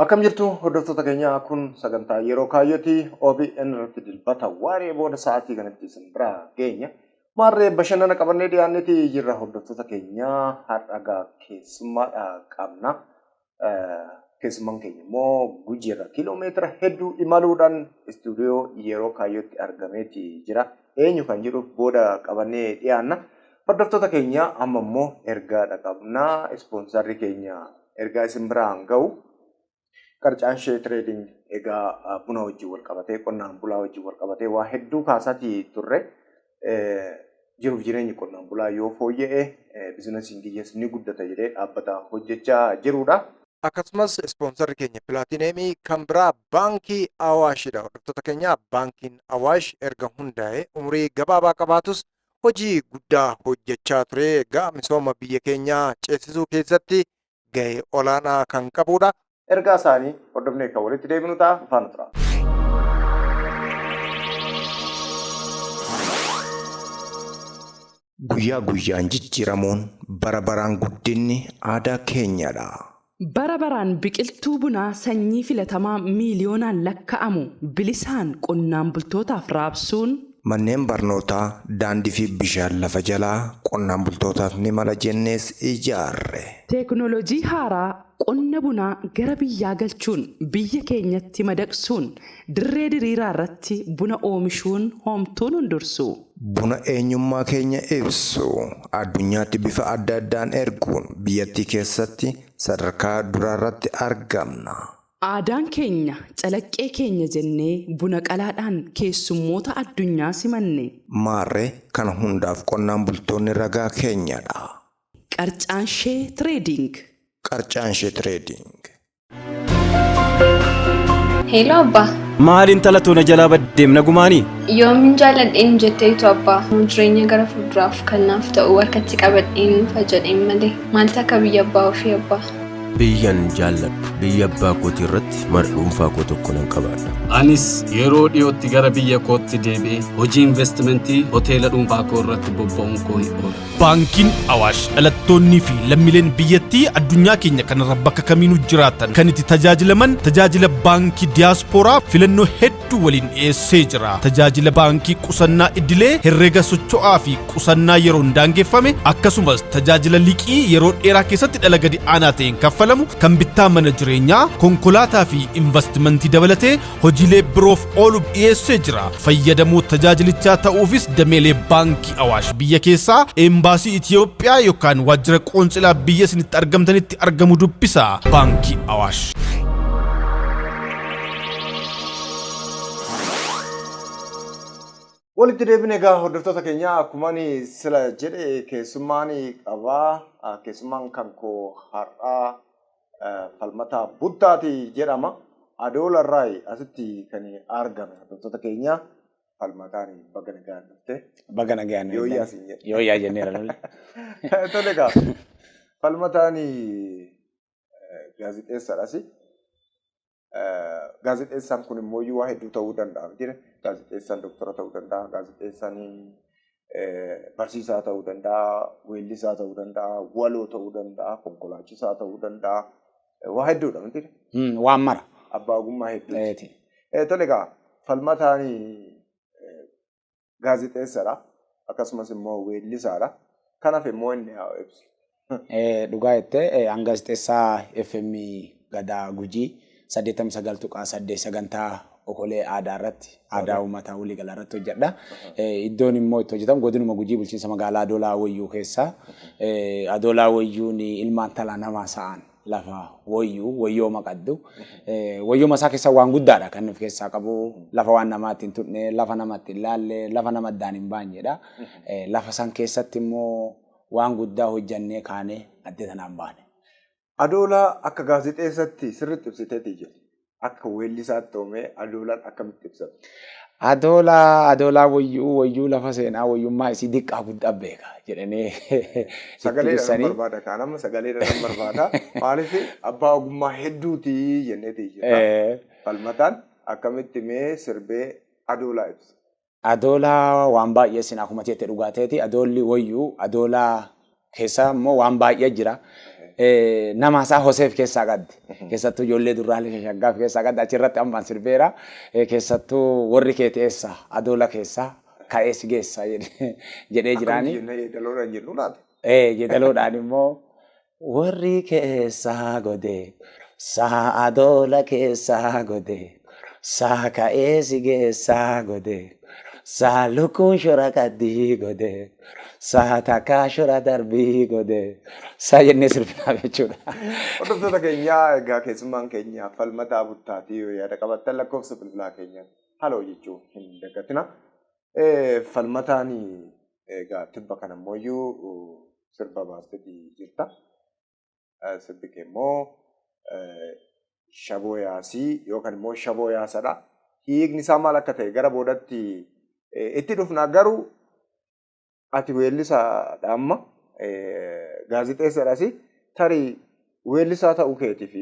Akkam jirtu hordoftoota keenyaa kun sagantaa yeroo kaayyooti OBN irratti dilbata waaree booda sa'aatii kanatti isin bira geenya. Maarree bashannana qabannee dhiyaanneeti jirra hordoftoota keenyaa har'a keessummaadha qabna. Keessummaan keenya immoo gujiirra kiiloomeetira hedduu imaluudhaan istuudiyoo yeroo kaayyootti argameeti jira. eenyu kan jedhuuf booda qabannee dhiyaanna. Hordoftoota keenya amma immoo ergaa dhaqabnaa ispoonsarri keenya ergaa isin biraan ga'u qarcaan ishee tireediing egaa buna wajjin wal qabatee qonnaan bulaa wajjin wal qabatee waa hedduu kaasaatii turre jiruuf jireenyi qonnaan bulaa yoo fooyya'e bizinasiin kiyyaas ni guddata jedhee dhaabbata hojjechaa jirudha. akkasumas ispoonsarri keenya pilaatineemii kan biraa baankii awaashidha hordoftoota keenya baankiin awaash erga hundaa'e umurii gabaabaa qabaatus hojii guddaa hojjechaa ture egaa misooma biyya keenyaa ceesisuu keessatti ga'ee olaanaa kan qabudha ergaa isaanii hordofnee kan walitti deebinu ta'a faana tura. Guyyaa guyyaan jijjiiramuun, bara baraan guddinni aadaa keenyadha. Bara baraan biqiltuu bunaa sanyii filatamaa miiliyoonaan lakka'amu bilisaan qonnaan bultootaaf raabsuun. Manneen barnootaa, daandii fi bishaan lafa jalaa qonnaan bultootaaf ni mala jennees ijaarre. Teeknooloojii haaraa Qonna bunaa gara biyyaa galchuun biyya keenyatti madaqsuun dirree diriiraa irratti buna oomishuun hoomtuu nun dursu. Buna eenyummaa keenya ibsu addunyaatti bifa adda addaan erguun biyyattii keessatti sadarkaa duraa irratti argamna. Aadaan keenya calaqqee keenya jennee buna qalaadhaan keessummoota addunyaa simanne. Maarree kana hundaaf qonnaan bultoonni ragaa keenyadha. Qarcaanshee Trading. Qarcaanshee Trading. Heeloo abbaa. Maal intala too na jalaa baddeem nagumaani? Yoomin jaaladheen jetteetu abbaa. Jireenya gara fuulduraaf kan naaf ta'u harkatti qabadheen nuufa jedheen malee. Maaltu akka biyya abbaa ofii abbaa. Biyyan jaalladhu biyya abbaa kootii irratti mana dhuunfaa koo tokko nan qabaadha. Anis yeroo dhiyootti gara biyya kootti deebi'ee hojii investimentii hoteela dhuunfaa koo irratti bobba'uun koo hin oolu. Baankiin Awaash dhalattoonnii fi lammileen biyyattii addunyaa keenya kanarra bakka kamiinuu jiraatan kan itti tajaajilaman tajaajila baankii diyaaspooraa filannoo hedduu waliin dhiyeessee jira. Tajaajila baankii qusannaa idilee, herrega socho'aa fi qusannaa yeroon daangeffame akkasumas tajaajila liqii yeroo dheeraa keessatti dhala gadi aanaa ta'een kaffalamu kan bittaa mana jireenyaa, konkolaataa fi investimentii dabalatee hojiilee biroof ooluuf dhiyeessee jira. Fayyadamoo tajaajilichaa ta'uufis dameelee baankii Awaash biyya keessaa, eembaasii Itiyoophiyaa yookaan waajjira qoonsilaa biyya isinitti argamtanitti argamu dubbisa. Baankii Awaash. Walitti deebine egaa hordoftoota keenya akkuma ani sila jedhe keessummaan qabaa keessummaan kan koo har'aa falmataa buttaati jedhama. Adoola irraa asitti kan argame hordoftoota keenya falmataan baga nagaan dhufte. Baga nagaan Yoo iyyaa siin jedhe. Yoo iyyaa jenneera lolli. Tole egaa falmataan gaazexeessaadhas. Gaazexeessaan kun immoo waa hedduu ta'uu danda'a. Gaazexeessaan doktora ta'uu danda'a. Gaazexeessaan barsiisaa ta'uu danda'a. Weellisaa ta'uu danda'a. Waloo ta'uu danda'a. Konkolaachisaa ta'uu danda'a. Waa hedduudha miti. Waan mara. Abbaa ogummaa hedduuti. Tole egaa falmataanii gaazexeessadha. Akkasumas immoo weellisaadha. Kan hafe immoo inni haa ibsu. Dhugaa jettee an gaazexeessaa FM Gadaa Gujii 89.8 sagantaa okolee aadaa irratti aadaa uummataa waliigalaa irratti hojjedha. Iddoon immoo itti hojjetamu godinuma Gujii bulchiinsa magaalaa Adoolaa Wayyuu keessa. Adoolaa Wayyuun ilmaan talaa namaa sa'aan. lafa woyyuu, woyyooma qaddu. Woyyooma isaa keessa waan guddaadha kan of keessaa qabu. Lafa waan namaatti hin tuqne, lafa namatti hin laalle, lafa nama addaan hin baanyedha. Lafa san keessatti immoo waan guddaa hojjannee kaanee adda tanaan baane. Adoola akka gaazexeessatti sirriitti ibsiteeti jirti. akka weellisaatti ta'ume adoolaan akkamitti ibsama? Adoolaa adoolaa wayyuu wayyuu lafa seenaa wayyummaa isii diqqaa guddaa beeka jedhanii itti Sagalee dhalan ibsanii. barbaada kaan amma sagalee dhalan barbaada. Maaliif abbaa ogummaa hedduuti jenneeti jira. Eh, Falmataan akkamitti mee sirbee adoolaa ibsa? Adoola waan baay'ee sin akuma jette dhugaa teeti adoolli wayyu adoola keessa immoo waan baay'ee jira. Nama isaa Hoseef keessaa qabdi. Keessattuu ijoollee durraalee shashaggaaf keessaa qabdi achirratti ammaan sirbeera. Keessattuu warri keeti eessa adoola keessa ka'ee si geessa jedhee jiraani. Akkam jennee yeedaloodhaan jennu laata? Yeedaloodhaan immoo Warri keessaa godee saa adoola keessaa godee saa ka'ee si geessaa godee saa lukkuun shura qaddii godee saa takkaa shura darbii godee saa jennee sirbinaaf jechuudha. Hordoftoota keenyaa egaa keessummaan keenya falmataa buttaatii yoo yaada qabattan lakkoofsa bilbilaa keenya haloo jechuu hin dagatina. Falmataan egaa tibba kana immoo sirba baasteeti jirta. Sirbi kee immoo shaboo yaasii yookaan immoo shaboo yaasadha. Hiikni isaa maal akka ta'e gara boodatti itti dhufna garuu ati weellisaadha amma gaazexeessadhasi tarii weellisaa ta'uu keetiif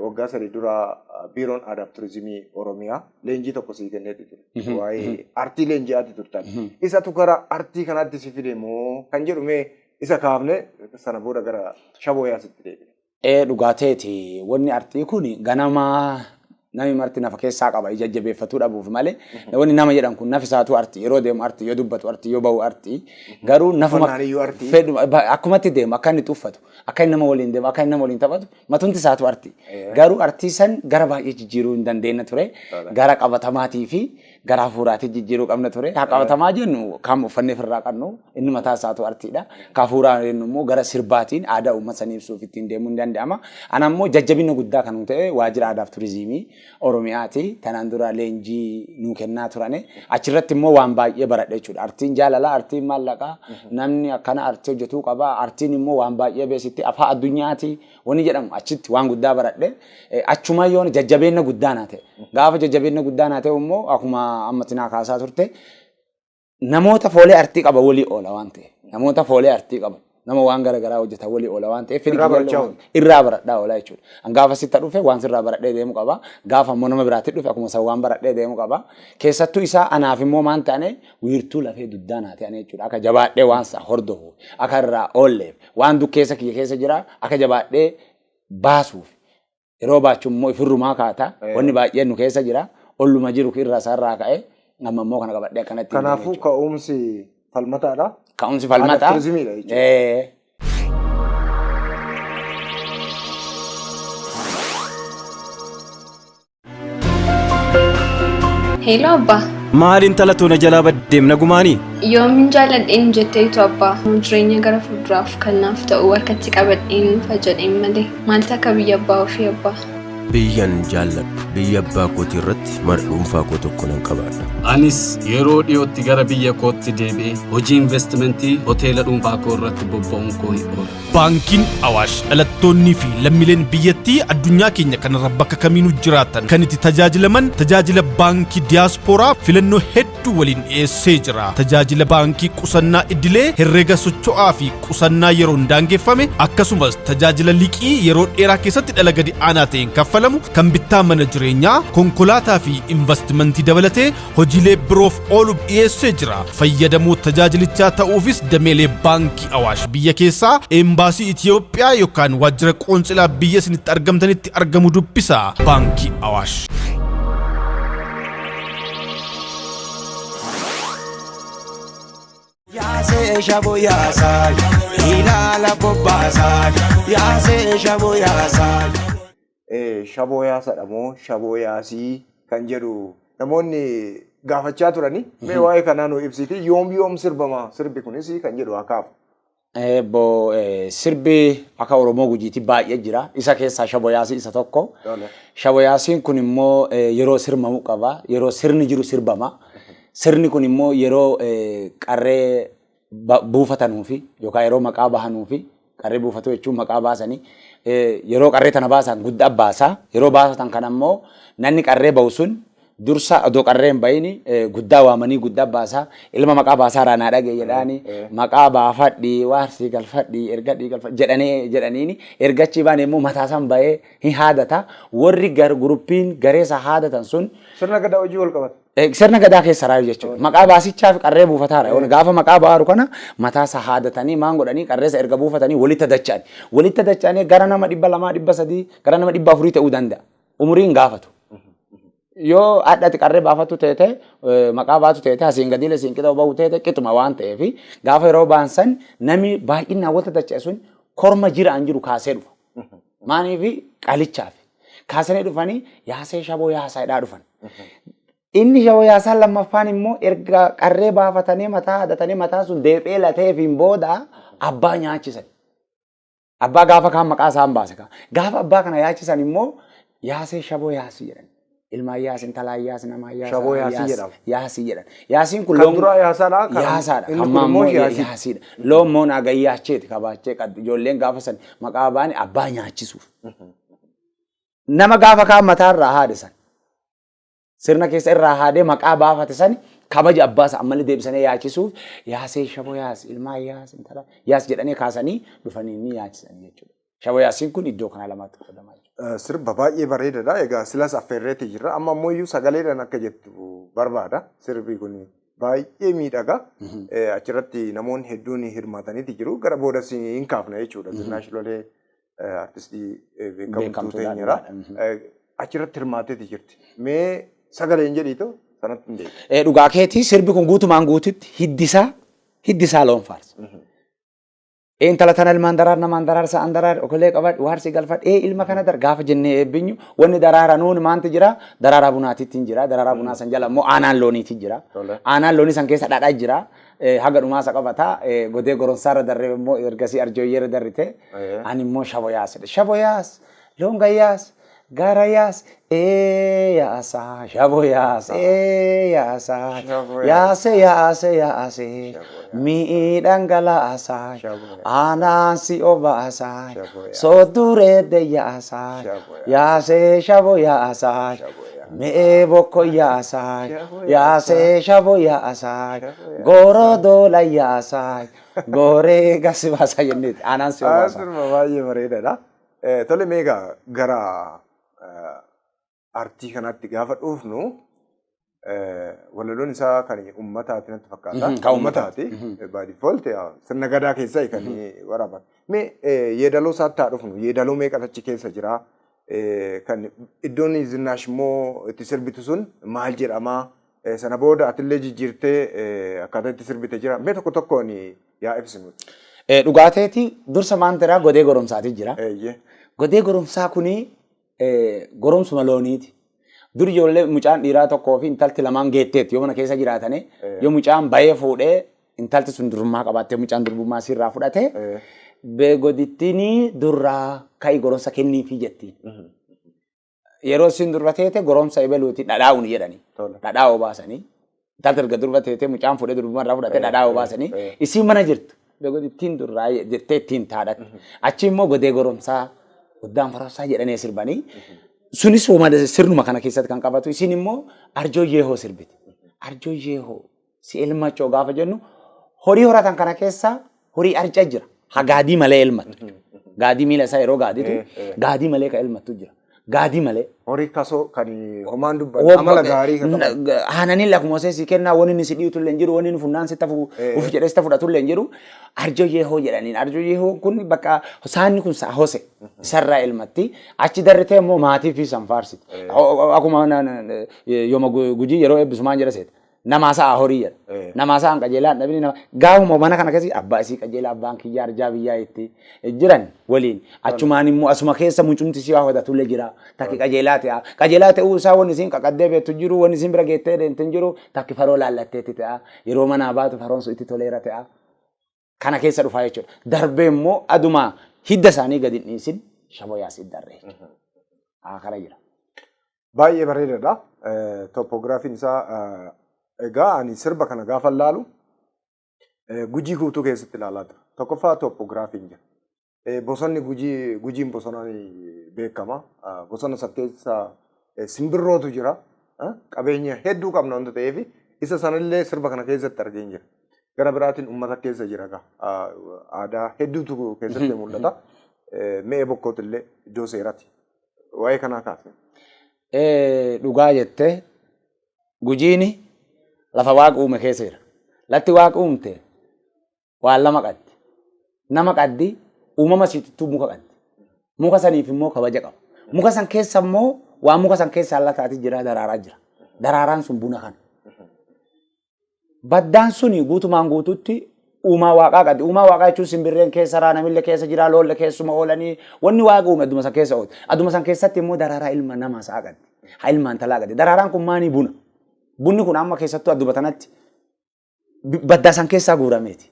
waggaa sadii dura biiroon aadaa fi turizimii oromiyaa leenjii tokko sii kenneeti ture waa'ee artii leenjii ati turtan isatu gara artii kanaatti si fide moo kan jedhu mee isa kaafne sana booda gara shabooyaasitti deebine. Ee dhugaa teeti wonni artii kun ganama nami marti nafa keessaa qaba ija jabeeffatuu dhabuuf malee wonni nama jedhan kun nafi isaatuu arti yeroo deemu arti yoo dubbatu arti yoo ba'u arti garuu nafuma Uffannaan iyyuu arti. fedhu ba- akkumatti deemu akka inni tuffatu akka inni nama waliin deemu akka inni nama waliin taphatu matumti isaatuu arti garuu artii san gara baay'ee jijjiiruu hin dandeenye ture gara qabatamaatii fi gara hafuuraatiin jijjiiruu qabna ture. Haa qabatamaa jennu kan uffannee ofirraa qabnu inni mataa isaatu artiidha. Ka hafuuraa jennu immoo gara sirbaatiin aadaa uummata sanii ibsuuf ittiin deemuu ni danda'ama. Ana immoo jajjabina guddaa kan ta'e waajjira aadaaf turizimii Oromiyaati. Tanaan dura leenjii nuu kennaa turane. Achirratti immoo waan baay'ee baradhe jechuudha. Artiin jaalalaa, artiin maallaqaa, namni akkana artii hojjetuu qaba. Artiin immoo waan baay'ee beeksitti afaa addunyaati. Wanni jedhamu achitti waan guddaa baradhe achumaa yoona jajjabeenna guddaa naa ta'e. Gaafa jajjabeenna guddaa naa ta'e immoo akkuma ammatti naa kaasaa turte namoota foolee artii qaba walii oola waan ta'e. Namoota foolee artii qaba. Nama waan gara garaa hojjetan walii oola waan ta'eef Irraa barachaa oolu. irraa baradhaa oola jechuudha. An gaafa sitta dhufe waan sirraa baradhee deemu qaba. Gaafa immoo nama biraatti dhufe akkuma san waan baradhee deemu qaba. Keessattuu isaa anaaf immoo maan ta'ane wiirtuu lafee dugdaa naa ta'ane jechuudha. Akka jabaadhee waan isaa hordofu akka irraa oolleef Waan dukkeessa kiyya keessa jira akka jabaadhee baasuuf yeroo baachu immoo ifirrumaa kaata wanni baay'een nu keessa jira olluma jiru irraa isaarraa ka'e amma immoo kana qabadhee akkanatti hin deemne Kanaafuu jechuudha. ka'umsi falmataadha. ka'umsi Haala falmataa turizimiidha jechuudha. Eh, Heeloo abbaa. Maali intala too na jalaa baddeem nagumaanii? Yoomin jaalladheen jetteetu abbaa. Jireenya gara fuulduraaf kan naaf ta'u harkatti qabadheen nufa jedheen malee. Maal takka biyya abbaa ofii abbaa. Biyyan jaalladhu. Biyya abbaa kootii irratti mana dhuunfaa koo tokko nan qabaadha. Anis yeroo dhiyootti gara biyya kootti deebi'ee hojii investimentii hoteela dhuunfaa koo irratti bobba'uun koo hin oolu. Baankiin Awaash dhalattoonnii fi lammileen biyyattii addunyaa keenya kanarra bakka kamiinuu jiraatan kan itti tajaajilaman tajaajila baankii diyaaspooraa filannoo hedduu waliin dhiyeessee jira. Tajaajila baankii qusannaa idilee, herrega socho'aa fi qusannaa yeroon daangeffame akkasumas tajaajila liqii yeroo dheeraa keessatti dhala gadi aanaa ta'een kaffalamu kan bittaa mana jireenyaa, konkolaataa fi investimentii dabalatee hojiilee biroof ooluuf dhiyeessee jira. Fayyadamoo tajaajilichaa ta'uufis dameelee baankii Awaash biyya keessaa, eembaasii Itiyoophiyaa yookaan waajjira qoonsilaa biyya isinitti argamtanitti argamu dubbisa. Baankii Awaash. Yaasee shabu yaasaa, ilaala bobbaasaa, yaasee shabu yaasaa. shaboo yaasadha moo shaboo yaasii kan jedhu namoonni gaafachaa turani. Mee mhm. waa'ee kanaa nu ibsiti yoom yoom sirbama sirbi kunis kan jedhu akaaf. Eebbo sirbi akka Oromoo gujiitti baay'ee jira. Isa keessaa shaboo yaasii isa tokko. Shaboo yaasiin kun immoo yeroo sirmamu qaba. Yeroo sirni jiru sirbama. Sirni kun immoo yeroo qarree buufatanuu fi yookaan yeroo maqaa bahanuu fi qarree buufatuu jechuun maqaa baasanii yeroo qarree tana baasan guddaa baasaa yeroo baasatan kan ammoo nanni qarree bahu sun dursa odoo qarree hin bahini guddaa waamanii guddaa baasaa ilma maqaa baasaa irraa naa dhagee jedhaani maqaa baafadhi waarsii galfadhi ergadhii galfadhi jedhanii jedhaniini ergachii baane immoo mataasan bahee hin haadata warri gar guruppiin gareesa haadatan sun Sirna gadaa hojii wal qabata. Eh, Sirna gadaa keessa raayu jechuudha. Maqaa baasichaa fi qarree buufataadha. Yoona Gaafa maqaa baaru kana mataa isaa haadatanii maan godhanii qarreessa erga buufatanii walitti dacha'an. Walitti dacha'anii gara nama dhibba lamaa dhibba sadii gara nama dhibba afurii ta'uu danda'a. Umuriin gaafatu. Yoo hadhati qarree baafatu teete eh, maqaa baatu teete asiin gadiilee siin qixa bahu teete qixuma waan ta'eef gaafa yeroo baan san namni baay'inaan walitti dacha'e sun korma jiraan jiru kaasee dhufa. Maaniifi qalichaafi. Kaasanii dhufanii yaasee shaboo yaasaa hidhaa dhufan. Inni shaboo yaasaan lammaffaan immoo erga qarree baafatanii mataa hadatanii mataa sun deephee lateefiin booda abbaa nyaachisan. Abbaa gaafa kaan maqaa isaan baase kaa. Gaafa abbaa kana yaachisan immoo yaasee shaboo yaasii jedhan. Ilma Ayyaas, intala Ayyaas, nama Ayyaas. Shaboo Yaasii Ayyaas- jedhama. Yaasii jedhan. Yaasiin kun Kan loon- duraa Yaasaadha, kan- Yaasaadha. inni Kan kun maammoo immoo Yaa- Yaasii. Yaasiidha. Loon moo naaga yaacheeti kabaachee qaddu. Ijoolleen gaafa san maqaa baane abbaa nyaachisuuf. Nama gaafa kaan mataa irraa haade san. Sirna keessa irraa haadee maqaa baafate sani kabaja abbaa isaa ammallee deebisanii yaachisuuf yaasee shaboo yaas ilmaa yaas intala yaas jedhanii kaasanii dhufanii ni yaachisanii jechuudha. Shawa Yaasiin kun iddoo kanaa lamaatti qoodama jechuudha. Sirba baay'ee bareedadha. Egaa silas affeerreetii jirra. Amma ammoo iyyuu sagaleedhaan akka jettu barbaada. Sirbi kun baay'ee miidhaga. Achirratti namoonni hedduun hirmaataniiti jiru. Gara boodas hin kaafna jechuudha. Zinnaash Lolee artistii beekamtuu teenyera. Achirratti hirmaateeti jirti. Mee sagaleen jedhiitu sanatti hin deebi'u. Dhugaa keetii sirbi kun guutumaan guututti hiddisaa hiddisaa loon faarsa. Ee intala tana ilmaan daraar namaan daraar sa'an daraar okolee qabadh waarsi galfadh ee ilma kana dar gaafa jennee eebbinyu wanni daraara nuun maanti jira daraaraa bunaatitti hin jira daraaraa bunaa san jala immoo aanaan looniiti jira Tole. aanaan loonii san keessa dhadhaa jira Eh, haga dhumaasa qabata Eh, godee goronsaarra darree immoo ergasii arjooyyeerra darrite Ee. ani immoo shaboyaas shaboyaas loon gayyaas Gara yaas ee yaasa shabo yaasa ee yaasa yaase yaase yaase mi'i dhangalaasa aanaan si obaasa sooddureedde yaasa yaase shabo yaasa mi'ee bokko yaasa yaase shabo yaasa gooroo doola yaasa gooree gasi baasa jenneeti aanaan si obaasa. Baay'ee bareedaadha. Eh, Tole mee egaa gara eh, artii kanaatti gaafa dhufnu eh, walaloon isaa kan uummataati natti fakkaata. Mhm, kan uummataati. Uummataati. By default yaa, sirna gadaa keessaa kan waraaban. Mee eh, yeedaloo isaatti haa dhufnu. Yeedaloo meeqatu achi keessa jira? Eh, Kan iddoon zinnaash immoo itti sirbitu sun maal jedhama? Eh, Sana booda atillee jijjiirtee eh, akkaataa itti sirbite jira. Mee tokko tokkoon yaa ibsi nuti. Eh, Dhugaa teeti dursa maan tiraa godee goromsaatii jira. Eeyyee. Godee goromsaa kuni eh, goromsuma looniiti. Dur ijoollee mucaan dhiiraa tokkoo fi intalti lamaan geetteetti yoo mana keessa jiraatane yoo mucaan bayee fuudhee intalti sun durummaa qabaattee mucaan durbummaa siirraa fudhate Eh. beegodittiin durraa ka'i goromsa kenniifii jettiin. yeroo isin durba teete goromsa ebeluuti dhadhaa uni jedhani. Tola. Dhadhaa obaasanii. Intalti erga durba teete mucaan fuudhee durbumaan irraa fudhatee Eh, dhadhaa eh, obaasanii. eh. Isiin mana jirtu. Beekon ittiin durraa jettee ittiin taadhatti. Achi immoo godee goromsaa guddaan farassaa jedhanii sirbanii. Sunis hooma sirnuma kana keessatti kan qabatu. Isiin immoo arjoo yeehoo sirbiti. Arjoo yeehoo Si elmachoo gaafa jennu horii horatan kana keessa horii arca jira. Ha gaadii malee elmattu. Gaadii miila isaa yeroo gaaditu gaadii malee ka elmattu jira. Gaadii malee. Horii kasoo kan homaan dubban amala gaarii kan qaban. Haananii lakkuma osee si kennaa wani inni si dhiitu illee hin jiru wani inni funnaan si tafu uf jedhee si fudhatu illee hin jiru. Arjo yeehoo jedhaniin arjo yeehoo kun bakka saanni kun saa hose isarraa elmatti achi darritee immoo maatii fi san faarsiti. Akkuma yooma gujii yeroo eebbisumaan jedha seeta. Namaa sa'aa horii jedha. Eh. Namaa sa'aan qajeelaa hin dhabini nama. Gaafuma mana kana keessi abbaa isii qajeelaa abbaan kiyyaa arjaa biyyaa itti jiran waliin. Achumaan immoo asuma keessa mucumti si hawwatatulle jira. Takki qajeelaa ta'a. Qajeelaa ta'uu isaa wanni isiin qaqaddee beektu hin jiru wanni isiin bira geettee deemtu hin jiru takki faroo laallatteetti ta'a. Yeroo manaa baatu faroon sun itti toleera ta'a. kana keessa dhufaa jechuudha. Darbee immoo aduma hidda isaanii gadi hin dhiisin shaboyaas hin darree. Haa kana jira. Baay'ee bareedaadha. Toppoogiraafiin isaa egaa ani sirba kana gaafa laalu gujii guutuu keessatti ilaalaa ture. Tokkoffaa toppoogiraafiin jira. Bosonni Gujii Gujiin bosonaan beekama. Bosona san keessa simbirrootu jira. Qabeenya hedduu qabna wanta ta'eef isa sanillee sirba kana keessatti argeen jira. Gara biraatiin uummata keessa jira egaa. Aadaa hedduutu keessatti mul'ata. Me'ee bokkootillee iddoo seeraati. Waa'ee kanaa kaasne. Dhugaa jettee Gujiini lafa waaqa uume keessa jira. Latti waaqa uumte waan lama qabdi. Nama qabdi, uumama siitittuu muka qabdi. Muka saniif immoo kabaja qaba. Muka san keessa immoo waan muka san keessa lataati jira daraaraa jira. Daraaraan sun buna kana. Baddaan suni guutumaan guututti uumaa waaqaa qabdi. Uumaa waaqaa jechuun simbirreen keessa raa namille keessa jira loolle keessuma oolanii wanni waaqa uume adduma san keessa oolti. Adduma san keessatti immoo daraaraa ilma namaa sa'a qabdi. Ha ilmaan talaa qabdi. Daraaraan kun maanii buna. Bunni kun amma keessattuu adduma tanatti baddaa san keessaa guurameeti.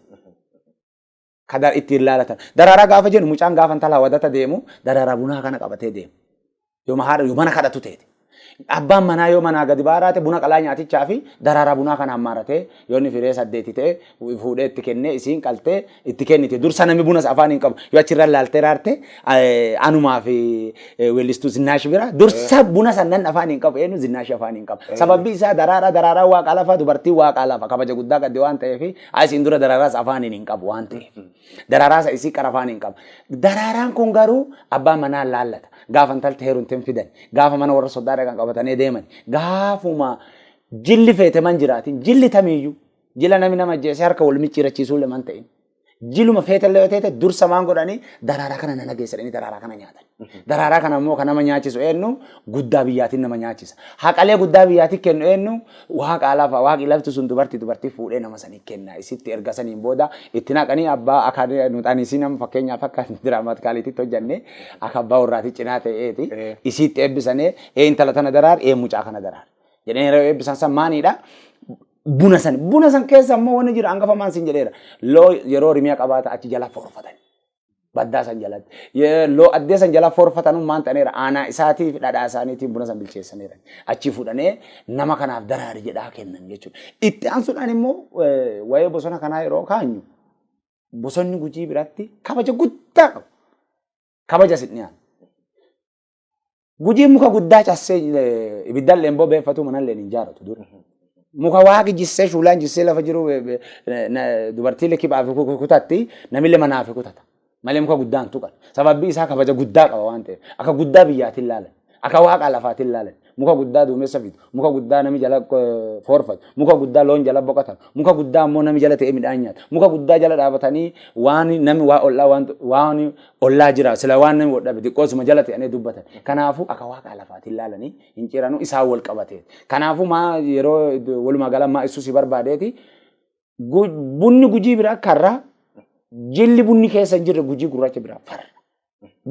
Ka da- ittiin laalatan. Daraaraa gaafa jennu mucaan gaafa intalaa wadata deemu daraaraa bunaa kana qabatee deema. Yoo haadha yoo mana kadhatu ta'e. Abbaan manaa yoo manaa gadi baaraate buna qalaa nyaatichaa fi daraaraa bunaa kana hammaaratee yoo inni firee saddeeti ta'e fuudhee itti kennee isiin qaltee itti kennite. Dursa namni bunas afaan hin qabu. Yoo achirra laaltee raarte anumaa fi weellistuu zinnaash bira dursa buna sannan afaan hin qabu eenyu zinnaash afaan hin qabu. Sababbi isaa daraaraa daraaraa waaqaa lafa dubartii waaqaa lafa kabaja guddaa qabdi waan ta'eef asiin dura daraaraas afaan hin qabu waan ta'eef. Daraaraas isii qara afaan hin qabu. Daraaraan kun garuu abbaa manaa laallata. Gaafa intalti heerumteen fidan. Gaafa mana warra soddaa dhaqan qabatanii deeman. Gaafuma jilli feeteman jiraatin jilli tamiyyuu. Jila nami nama ajjeesee harka wal micciirachiisuullee man ta'in. Jiluma feetallee yoo ta'e dursa maan godhanii daraaraa kana nana geessadhanii daraaraa kana nyaatan. Daraaraa kana immoo kan nama nyaachisu eenyu guddaa biyyaatiin nama nyaachisa. Haqalee guddaa biyyaatiin kennu eenyu waaqa lafa waaqi lafti sun dubartii dubartii fuudhee nama sanii kenna. Isitti erga saniin booda itti naqanii abbaa akka nuxanisii nama fakkeenyaaf akka diraamaatikaaliititti hojjannee akka abbaa warraati cinaa ta'eeti. Isitti eebbisanee ee intala tana daraar ee mucaa kana daraar. Jedhanii yeroo eebbisan san maaniidha Buna san buna san keessa ammoo wanni jira hangafa maan sin jedheera. Loo yeroo rimiya qabaata achi jala forfatan. Baddaa san jalatti. Ye- Loo addee san jala forfatan maan ta'aniira aanaa isaatiif dhadhaa isaaniitiin buna san bilcheessaniira. Achi fudhanee nama kanaaf daraari jedhaa kennan jechuudha. Itti aansuudhaan immoo eh, waa'ee bosona kanaa yeroo kaanyu bosonni gujii biratti kabaja guddaa qabu. Kabaja sin dhiyaatu. Gujiin muka guddaa cassee eh, ibiddalleen bobeeffatu manalleen hin jaaratu dura. Muka waaqi jissee shuulaan jissee lafa jiru eh, eh, na- na- dubartii likibaa fi ku- ku- kutatti namillee manaa fi kutata. Malee muka guddaa hin tuqan. Sababbi isaa kabaja guddaa qaba waan ta'eef. Akka guddaa biyyaatiin laalan. Akka waaqa lafaatiin laalan. muka guddaa duumessa fidu, muka guddaa nami jala foorfatu, muka guddaa loon jala boqatan, muka guddaa ammoo nami jala ta'ee midhaan nyaata, muka guddaa jala dhaabatanii waan nami waa ollaa waan waan ollaa jira sila waan nami wodhabe xiqqoosuma jala ta'anii dubbatan. Kanaafuu akka waaqaa lafaatiin laalanii hin ciranuu isaan wal qabatee. Kanaafuu maa yeroo walumaa gala maa ibsuu si barbaadeeti Bunni gujii biraa karra jilli bunni keessa hin jirre gujii gurraacha biraa farra.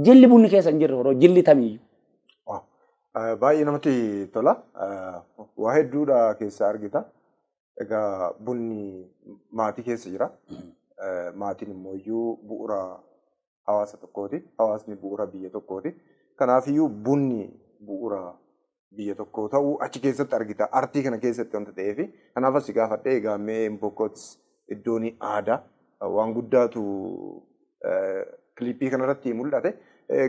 Jilli bunni keessa hin jirre horoo jilli tamiyyuu. Baay'ee namatti tola. Waa hedduudha keessa argita. Egaa bunni maatii keessa jira. Maatiin immoo iyyuu bu'uura hawaasa tokkooti. Hawaasni bu'uura biyya tokkooti. Kanaafiyyuu bunni bu'uura biyya tokkoo ta'uu achi keessatti argita. Artii kana keessatti wanta ta'eef kanaaf asi gaafadhe egaa mee Mbokkots iddoon aadaa waan guddaatu kiliippii kanarratti mul'ate.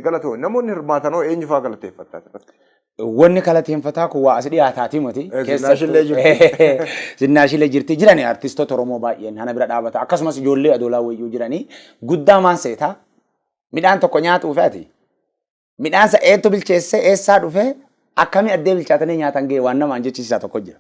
Galatoo namoonni hirmaatan hoo eenyufaa galateeffattaa turte? Wanni kalateenfataa kun waa as dhiyaataatii moti. Eh, Zinnaashillee jirti. Zinnaashillee jirti. Jirani artistoota Oromoo baay'een hana bira dhaabata. Akkasumas ijoollee adoolaa wayyuu jiranii guddaa maan seetaa midhaan tokko nyaatuu fi ati midhaan sa eettu bilcheessee eessaa dhufee akkamii addee bilchaatanii nyaatan ga'e waan namaan jechisiisaa tokko jira.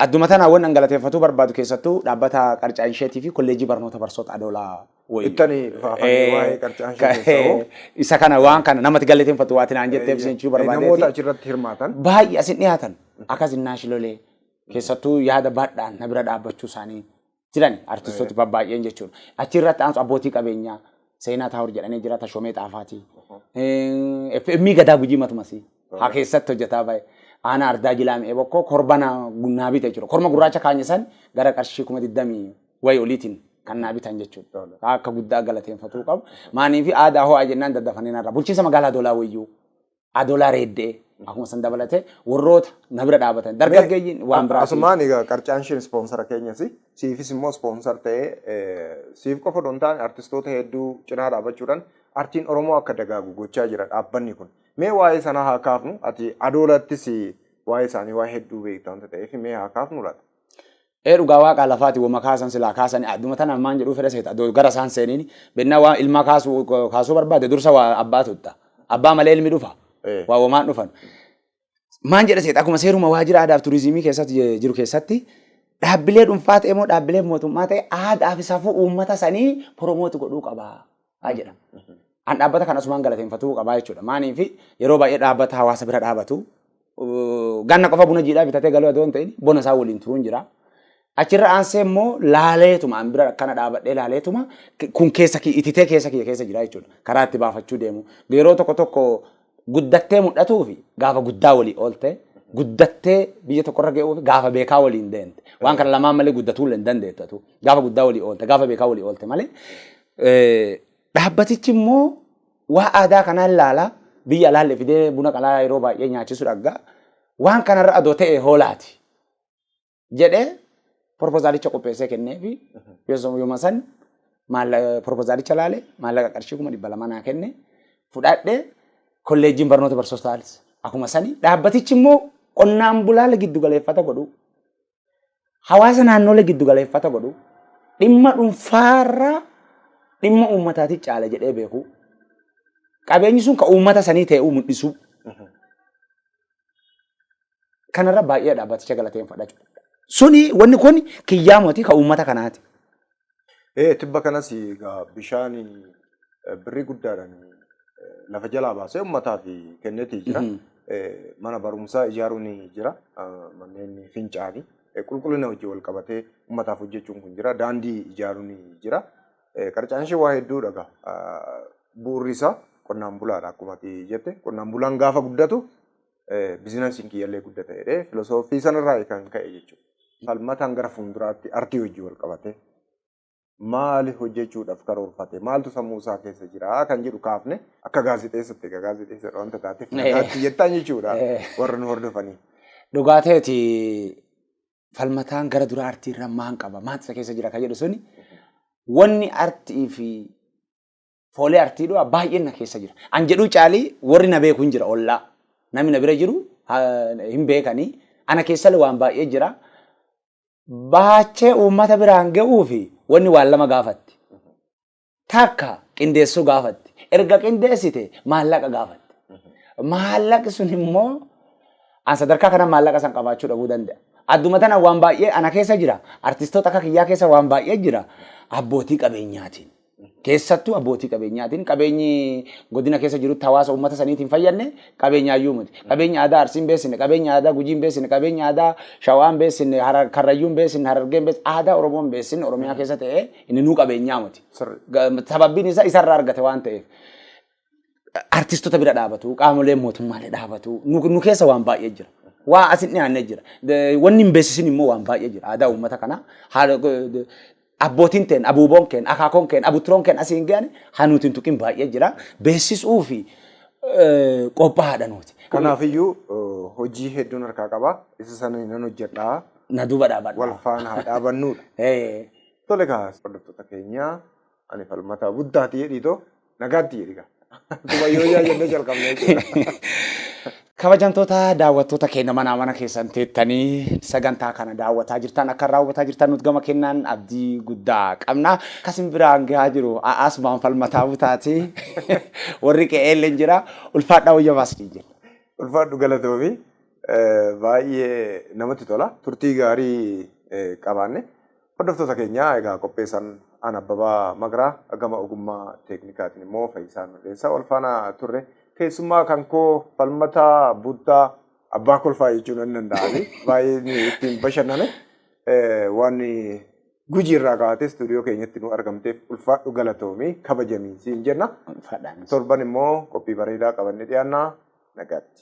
Adduma tanaan wan an galateeffatuu barbaadu keessattuu dhaabbata Qarcaa Insheetii fi Kolleejjii Barnoota Barsoota Adoolaa wayii. Ittani faafanii Eh, waa'ee qarcaa ka- ishee keessaa hoo? Isa kana waan kana namatti galateeffattu waati naan jetteef isin jechuu Namoota barbaadeeti. achirratti hirmaatan. Baay'ee asin dhiyaatan akkas innaash lolee keessattuu yaada baadhaan na bira dhaabbachuu isaanii jiran artistooti babbaay'een jechuudha. Achi irratti aansu abbootii qabeenyaa seenaa taa'ur jedhanii jira Tashomee Xaafaati. FM gadaa gujii matumasi. Haa keessatti hojjetaa baay'ee. Aanaa ardaa jilaame ebokkoo korba naa naa bite jechuudha. Korma gurraacha kaanye san gara qarshii kuma digdamii wayi oliitiin kan naa bitan jechuudha. Akka guddaa galateeffatuu qabu. Maanii fi aadaa ho'aa jennaan daddafanii narra. Bulchiinsa magaalaa Doolaa Wayyuu. adolaa reeddee akkuma san dabalatee warroota na bira dhaabatan dargaggeeyyiin waan biraa. Asumaan egaa qarcaan isheen ispoonsara keenyas siifis immoo ispoonsar ta'ee eh, siif qofa odoo hin taane artistoota hedduu cinaa dhaabachuudhaan artiin Oromoo akka dagaagu gochaa jira dhaabbanni kun. Mee waa'ee sanaa haa kaafnu ati adoolattis waa'ee isaanii waa hedduu beekta wanta ta'eef mee haa kaafnu laata? Ee dhugaa waaqaa lafaati woma kaasan silaa kaasani adduma tanaan maan jedhuu fedha seeta adoo gara isaan seeniin bennaa waa ilmaa kaasuu kaasuu barbaade dursa waa abbaa tutta abbaa malee ilmi dhufa Eh. waa womaan dhufan maan jedha seeta akkuma seeruma waajjira aadaaf turizimii keessatti je- jiru keessatti dhaabbilee dhuunfaa ta'e moo dhaabbilee mootummaa ta'e aadaa fi safuu uummata sanii promooti godhuu qaba haa jedha. An dhaabbata kana asumaan galateeffatuu qabaa jechuudha. Maaliif yeroo baay'ee dhaabbata hawaasa bira dhaabatu ganna qofa buna jiidhaa bitatee galuu adoo hin ta'in bona isaa waliin turuun jira. Achirra aansee immoo laaleetuma an bira akkana dhaabadhee laaleetuma kun keessa kiyya ititee keessa kiyya keessa jira jechuudha. Karaa itti baafachuu deemu. Yeroo tokko tokko guddattee mul'atuu fi gaafa guddaa walii ooltee guddattee biyya tokkorra ga'uu fi gaafa beekaa waliin deemte. Waan kana lamaan malee guddatuu illee hin dandeettatu. Gaafa guddaa walii oolte gaafa beekaa walii oolte malee Dhaabbatichi immoo waa aadaa kanaa ilaala. Biyya alaalle fidee buna qalaa yeroo baay'ee nyaachisu dhagga. Waan kanarra adoo ta'e hoolaati. Jedhee propozaalicha qopheessee kennee fi yooma san propozaalicha laale maallaqa qarshii kuma dhibba lama naa kenne fudhadhe kolleejjiin barnoota barsootaalis akkuma sani dhaabbatichi immoo qonnaan bulaa giddu galeeffata godhuu. hawaasa naannolee giddu galeeffata godhu dhimma dhuunfaarraa dhimma uummataatii caala jedhee beeku qabeenyi sun kan uummata sanii ta'uu mul'isu kanarra baay'ee dhaabbaticha galateeffadha. Suni wanni kun kiyyaa mootii kan uummata kanaati. Ee tibba kanas egaa bishaan eh, birrii guddaadhaan eh, lafa jalaa baasee ummataaf kennetii jira. Mhm. Eh, Mana barumsaa ijaaruun jira. Ah, Manneen fincaanii eh, qulqullina wajjin wal qabatee ummataaf hojjechuun kun jira. Daandii ijaaruun jira. Eh, Qarcaan ishee waa hedduu dhaga. Bu'uurri isaa qonnaan bulaadha akkuma ati jette. Qonnaan bulaan gaafa guddatu bizinasiin kiyyallee guddata jedhee filosooffii sanarraa kan ka'e jechuudha. Falmataan gara fuulduraatti artii hojii wal qabate maali hojjechuudhaaf karoorfate maaltu sammuu isaa keessa jira kan jedhu kaafne akka gaazexeessatti egaa gaazexeessadha wanta taateef nagaatti jettaan jechuudha warra nu hordofanii. Dhugaa ta'eeti falmataan gara dura artii irraa maan qaba maanta isa keessa jira kan jedhu suni wanni artii fi foolee artii du'a baay'een na keessa jira. An jedhuu caalii warri na beeku hin jira ollaa. Namni na bira jiru hin beekanii. Ana keessallee waan baay'ee jira. Baachee uummata biraan ga'uu fi wanni waan lama gaafatti. Takka qindeessuu gaafatti. Erga qindeessite maallaqa gaafatti. Maallaqi sun immoo an sadarkaa kana maallaqa san qabaachuu dhabuu danda'a. Adduma tana waan baay'ee ana keessa jira. Artistoota akka kiyyaa keessa waan baay'ee jira. Abbootii qabeenyaatiin. Keessattuu abbootii qabeenyaatiin qabeenyi godina keessa jirutti hawaasa uummata saniitiin hin fayyadne qabeenyaayyuu miti. Qabeenyi aadaa Arsiin beeksifne, qabeenyi aadaa Gujiin beeksifne, qabeenyi aadaa Shawaan beeksifne, Harar- Karrayyuun beeksifne, Harargeen beeksifne, aadaa Oromoon beeksifne Oromiyaa keessa ta'ee inni nuu qabeenyaa miti. Sirri. Ga- Sababbiin isaa isarraa argate waan ta'eef. artistota bira dhaabatu, qaamolee mootummaalee dhaabatu. Nu nu keessa waan baay'ee jira. Waa asin dhiyaannee jira. De- Wanni hin beeksisin immoo waan baay'ee jira. Aadaa uummata kanaa haala de- abbootiin teen, abuuboon keen, akaakoon keen, abuturoon keen asiin ga'an hanuuti hin tuqin baay'ee jira. Beeksisuu fi eh, qophaa'aadha nuti. Kanaafiyyuu eh, hojii hedduun harkaa qaba. Isa sana nan hojjedhaa. Na duuba dhaabadha. Wal faana haa dhaabannudha. Eh, Tole kaa hordoftoota keenya Ani falmataa buddaati jedhii too nagaatti jedhi gaa. Akkuma yoo yaa jennee jalqabnee jechuudha. Kabajamtoota daawwattoota keenya manaa mana keessan teettanii sagantaa kana daawwataa jirtan akka irraa hubataa jirtan nuti gama kennaan abdii guddaa qabna. Kasin biraan gahaa jiru a'aas baan falmataa butaati. Warri qe'ee illee jira. Ulfaadhaa wayya baas ni jenna. Ulfaadhu galatoomi. Baay'ee namatti tola. Turtii gaarii qabaanne. Hordoftoota keenya egaa qopheessaan aan Abbabaa Maqraa gama ogummaa teeknikaatiin immoo Fayyisaa Mirreessaa wal faana turre keessummaa kan koo falmataa buttaa abbaa kolfaa jechuu nan danda'ani baay'ee ittiin bashannane waan gujii irraa kaatee istuudiyoo keenyatti nu argamteef ulfaadhu galatoomi kabajamii siin jenna torban immoo qophii bareedaa qabannee dhiyaannaa nagaatti.